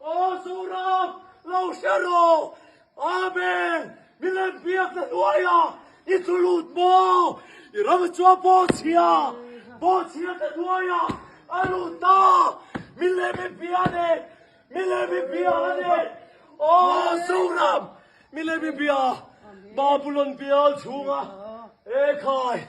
Aw Zoram, lo hre raw! Amen! Milem biak na hnuaia i thu lut maw? I ram a chuang pawh chhia, pawh chhia ta hnuaia a lut ta! Milem i bia a nen, milem i bia a nen! Aw Zoram, milem i bia Babulon bial chhunga e khai!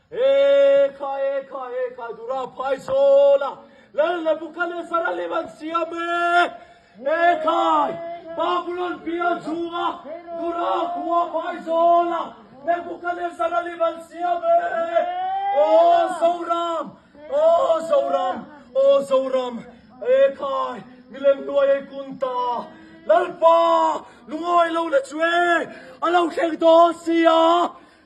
Ekha ekha ekha dura phai sawl a lal na buka le saralim an siam e ekha babulon pia chhung a dura khua phai sawl a le buka le saralim an siam e aw zoram aw zoram aw zoram ekha milem hnuai ei kun ta lalpa lungawi lo na chu e a lo thleng dawn sia.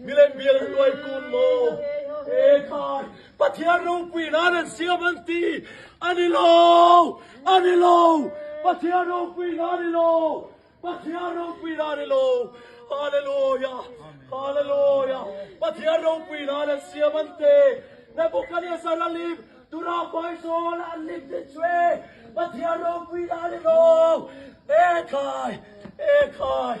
Milem bial an luai kun maw? He khai Pathian ropui nan an siam an ti. A ni lo, a ni lo, Pathian ropui nan a ni lo, Pathian ropui nan a ni lo. Hallelujah, Hallelujah, Pathian ropui nan an siam an ti. Nebuchadnezzar a lim tura hmai zawl a an lim ti chu e, Pathian ropui nan a ni lo. He khai, he khai.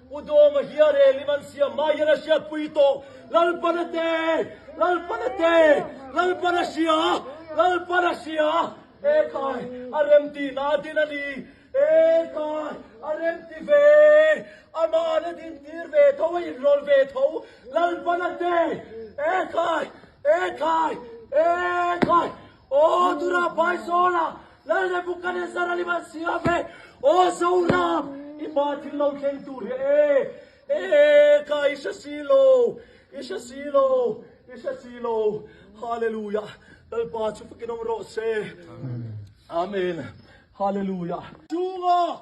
U Dawma hi a rel in an siam mai hian a hriat pui tawh. Lalpan a te! Lalpan a te! Lalpan a hria! Lalpan a hria! Ekhai! A rem ti na a din a ni. Ekhai! A rem ti ve! Amah an a din tir ve tho, a inrawl ve tho. Lalpan a te! Ekhai! Ekhai! Ekhai! Aw tura Phaizawl-a Lal Nebuchadnezzar a liman siam e, aw Zoram, i pa thil lo thleng tur hi e, e kha i hre si lo, i hre si lo, i hre si lo, Hallelujah, Lalpa chhufik i nawm rawh se, Amen, Hallelujah. Chunga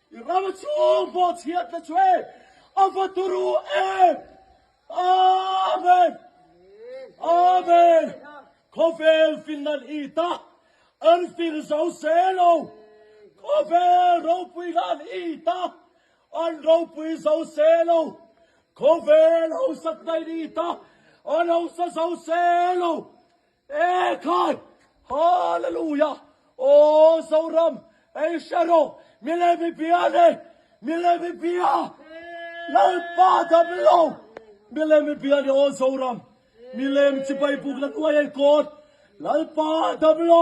I rama chhung pawh chhiat ta chu e, a va tur u e. Amen! Amen! Khawvel fil nan i ta, an fil zo se lo. Khawvel ropui nan i ta, an ropui zo se lo. Khawvel hausak nan i ta, an hausa zo se lo. Ee khan! Hallelujah! Aw Zoram, ei hre rawh, mi leh mi pia ni, mi leh mi pia, Lalpa dam lo, mi leh mi pia ni aw Zoram, mi leh mi chipai bukna hnuai ei kawt, Lalpa dam lo,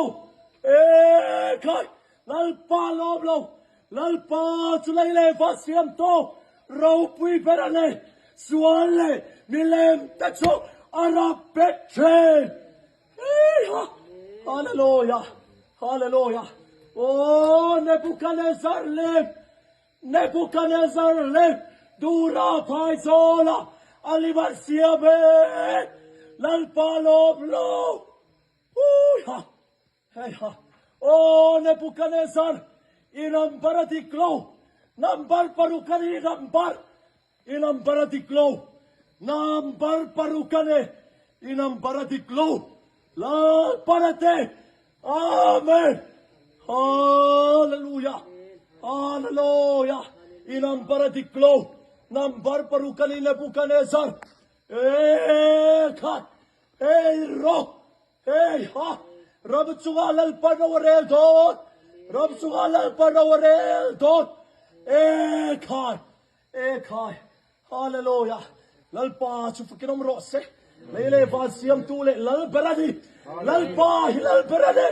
ee khan! Lalpa lawm lo, Lalpa chu lei leh va siam tawh, ropui ber a nei, sual leh milem te chu a rap bet thin. Eeha! Hallelujah! Hallelujah! Aww! Nebuchadnezzar lem, Nebuchadnezzar lem dura phai zawl a, a liver siam e, Lalpa lawm lo. Eeha! Hei ha! O Nebukanesar, i ram bara dik lo! Nambar paruk ka nih ram bar! I ram bara dik lo! Nambar paruk ka ne! I ram bara dik lo! Lam bara te! Amen! Hallelujah! Hallelujah! I ram bara dik lo! Nambar paruk ka nih Nebukanesar! Ei khat! Ei ro! Hey ha! Ram chunga Lalpa ro a rel dawt! Ram chunga Lalpa ro a rel dawt! Ee khai! Ee khai! Hallelujah! Lalpa chu fakin awm rawh se! Lei leh van siamtu leh Lal ber a ni! Lalpa hi Lal ber a ni!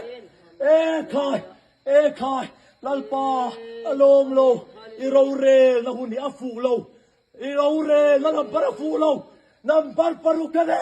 Ee khai! Ee khai! Lalpa a lawm lo, i rorelna hun hi a fuh lo, i rorelna number a fuh lo, number paruk a ni!